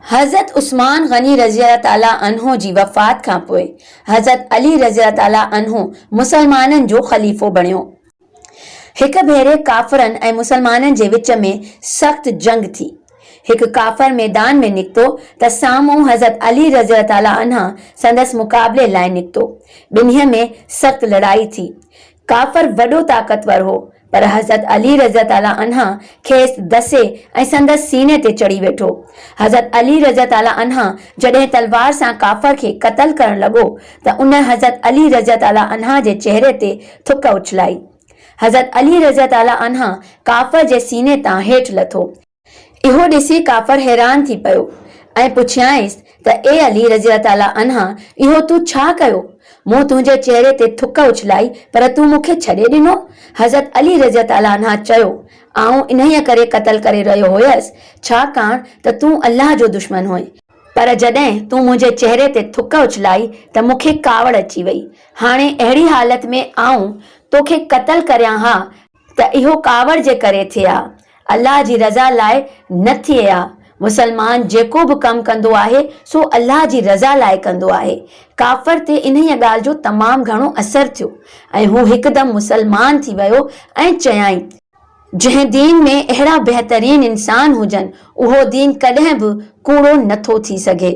حضرت عثمان غني رضي الله تعالٰي عنه جي وفات کان پوء حضرت علي رضي الله تعالٰي عنه مسلمانن جو خليفو بڻيو. هڪ ڀيري ڪافرن ۽ مسلمانن جي وچ ۾ سخت جنگ ٿي. هڪ ڪافر ميدان ۾ نڪتو ته سامهون حضرت علي رضي الله تعالٰي عنه سندس مقابلي لاء نڪتو. ٻنهي ۾ سخت لڙائي ٿي. ڪافر وڏو طاقتور هو، پر حضرت علي رضي الله تعالٰي عنه کيس دسي ۽ سندس سيني تي چڙهي ويٺو. حضرت علي رضي الله تعالٰي عنه جڏهن تلوار سان ڪافر کي قتل ڪرڻ لڳو ته ان حضرت علي رضي الله تعالٰي عنه جي چهري تي ٿڪ اڇلائي. حضرت علي رضي تعالٰي عنه ڪافر جي سيني تان هيٺ لٿو. اهو ڏسي ڪافر حيران ٿي پيو ۽ پڇيائينس ته اي علي رضي تعالٰي عنه اهو تون ڇا ڪيو؟ مون تنهنجي چهري تي ٿڪ اڇلائي پر تون مون کي ڇڏي ڏنو؟ حضرت علي رضي تعالٰي عنه چيو، آئون انهيء ڪري قتل ڪري رهيو هيس ڇاڪاڻ ته تون الله جو دشمن هئين. پر جڏهن تون منهنجي چهري تي ٿڪ اڇلائي ته مون کي ڪاوڙ اچي وئي. هاڻي اهڙي حالت ۾ آئون تو کي قتل ڪريان ها ته اهو ڪاوڙ جي ڪري ٿئي ها، الله جي رضا لاء نه ٿئي ها. مسلمان جيڪو به ڪم ڪندو آهي سو الله جي رضا لاء ڪندو آهي. ڪافر تي انهيء ڳالهه جو تمام گهڻو اثر ٿيو ۽ هو هڪدم مسلمان ٿي ويو ۽ چيائين. جنهن دين ۾ اهڙا بهترين انسان هجن، اهو دين ڪڏهن به ڪوڙو نه ٿو ٿي سگهي.